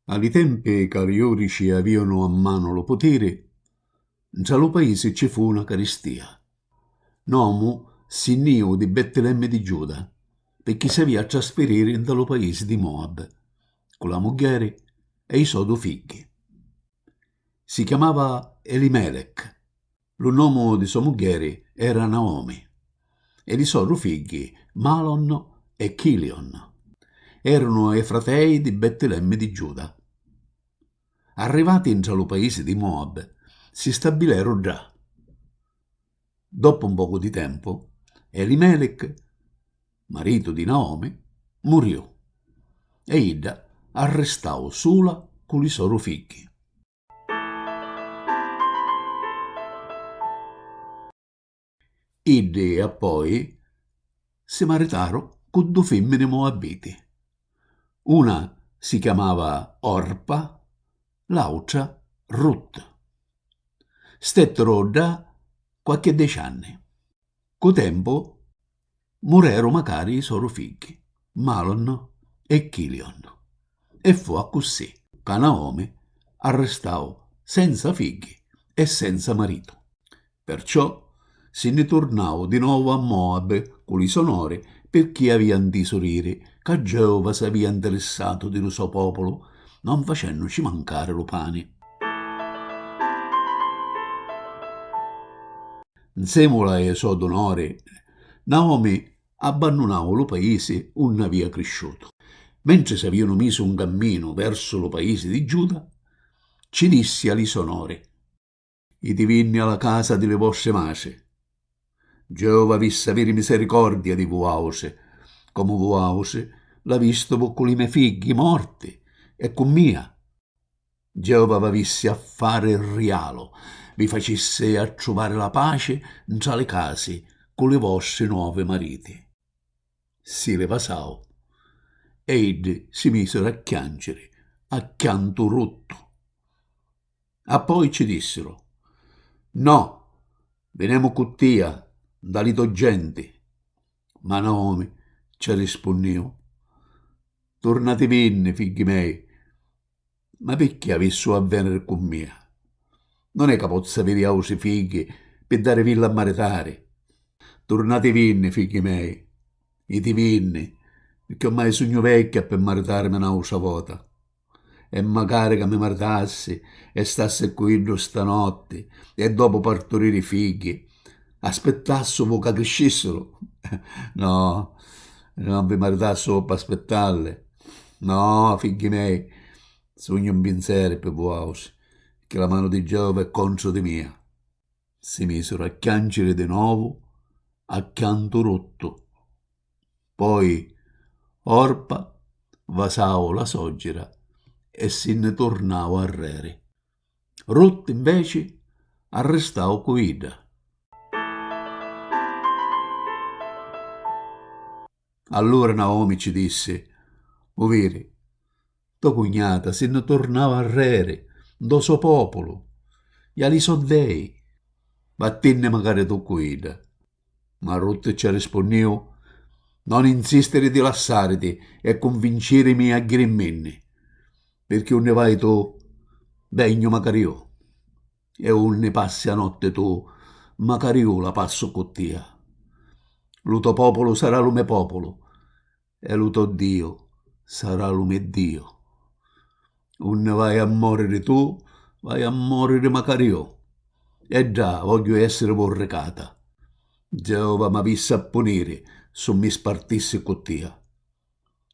A li tempi ca li jùdici avìanu a manu lu putiri, ntra lu paisi ci fu na caristìa. N'omu si nni jìu di Bettilemmi di Giuda, pirchì s'avìa a trasfiriri nta lu paisi di Moab, cu la muggheri e i sò du figghi. Si chiamava Elimelech. Lu nomu di so muggheri era Naomi e li so du figghi Malon e Chilion erunu e fratei di Bettilemmi di Giuda. Arrivati ntra lu paisi di Moab si stabileru ddà. Doppu un pocu di tempu Elimelic, maritu di Naomi, muriu e idda arristau sula cu li so du figghi. Iddi appoi si maritaru cu du fimmini muabbiti. Una si chiamava Orpa, l'autra Rut. Stetturu ddà quacchi dici anni. Cu tempu mureru macari i soru figghi, Malon e Kilion, e fu accussì ca Naomi arristau senza figghi e senza maritu. Perciò si nni turnau di novu a Moabi cu li so nori pirchì avia ntisu diri ca Geova s'avia ntirissatu di lu so populu non facennuci mancari lu pani. Nzèmula ê sò dunori, Naomi abbannunau lu paisi unni avìa crisciutu. Mentri s'avìanu misu 'n camminu versu lu paisi di Giuda, cci dissi a li sò nori, Itivinni a la casa di li vostri matri. Geova avissi aviri misericordia di vuàutri, comu vuàutri l'avistivu cu li me' figghi morti e cu mia. Geova v'avissi a fari rialu, vi facissi a truvari la paci ntra li casi cu li vostri novi mariti. Si li vasau. E iddi si misiru a chianciri a chiantu ruttu. Appoi cci dissiru, No, vinemu cu tia nta li to genti. Ma Naomi cci arrispunniu, Turnativinni, figghi mei. Ma picchì avissu a veniri cu mia? Non è ca pozzu aviri autri figghi pi darivilli a maritari. Turnativinni, figghi mei, jitivinni, picchì ormai sugnu vecchia pi maritarimi n'autra vota. E macari ca mi maritassi e stassi cu iddu stanotti e dopu parturiri figghi. Aspettassumu ca criscissiru. No, non vi maritassu p'aspettarli. No, figghi mei, sugnu mpinseri pi vuautri, pirchì la manu di Geova è contru di mia. Si misiru a chianciri di novu a chiantu ruttu. Poi Orpa vasau la soggira e si nni turnau arreri. Ruth inveci arristau cu idda. Allura Naomi ci dissi, U viri, to cugnata si nni turnau arreri, ntô so pòpulu, i a li so dei. Vattinni macari tu cu idda. Marruttu ci arrispunniu, Non insistiri di lassariti e cunvincirimi a jiriminni, pirchì unni vai tu, vegnu macari iu, e unni passi a notti tu, macari iu la passu cu tia. Lu to populu sarà lu me populu. e lu to Diu sarà lu me Diu. Unni vai a moriri tu, vaiu a moriri macari iu. E ddà vogghiu essiri vurricata. Geova m'avissi a puniri si mi spartissi cu tia.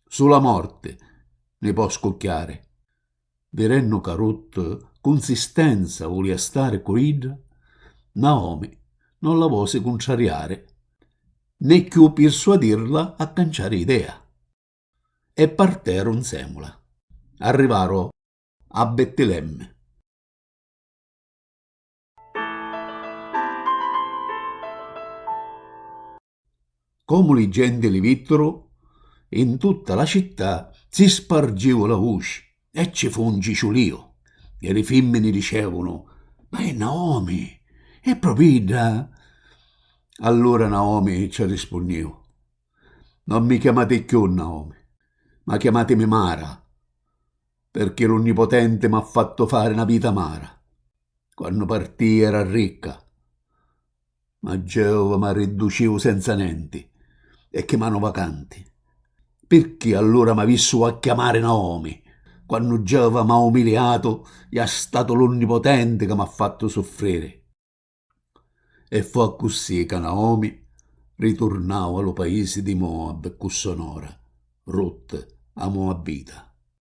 Sula morti mi po scucchiari. Vidennu ca Rut cu nsistenza vulia stari cu idda, Naomi non la vosi cuntrariari, né cchiù pirsuadirla a canciari idea, e parteru nsemula. Arrivaru a Bettilemmi. Comu li genti li vitturu, in tutta la città si spargiu la vuci e ci fu un ciciulìu e li fimmini dicevunu, Ma è Naomi! È propriu idda? Allura Naomi ci arrispunniu, Non mi chiamati cchiù Naomi, ma chiamatimi Mara, pirchì l'Onnipotenti m'ha fattu fari na vita amara. Quannu partìa era ricca, Ma Geova m'arridducìu senza nenti e chi manu vacanti. Pirchì allura m'avissu a chiamari Naomi, quannu Geova m'ha umiliatu e ha statu l'Unnipotenti ca m'ha fattu suffriri? E fu accussì ca Naomi riturnau a lu paisi di Moab cu so nora, Rut, a Moabita.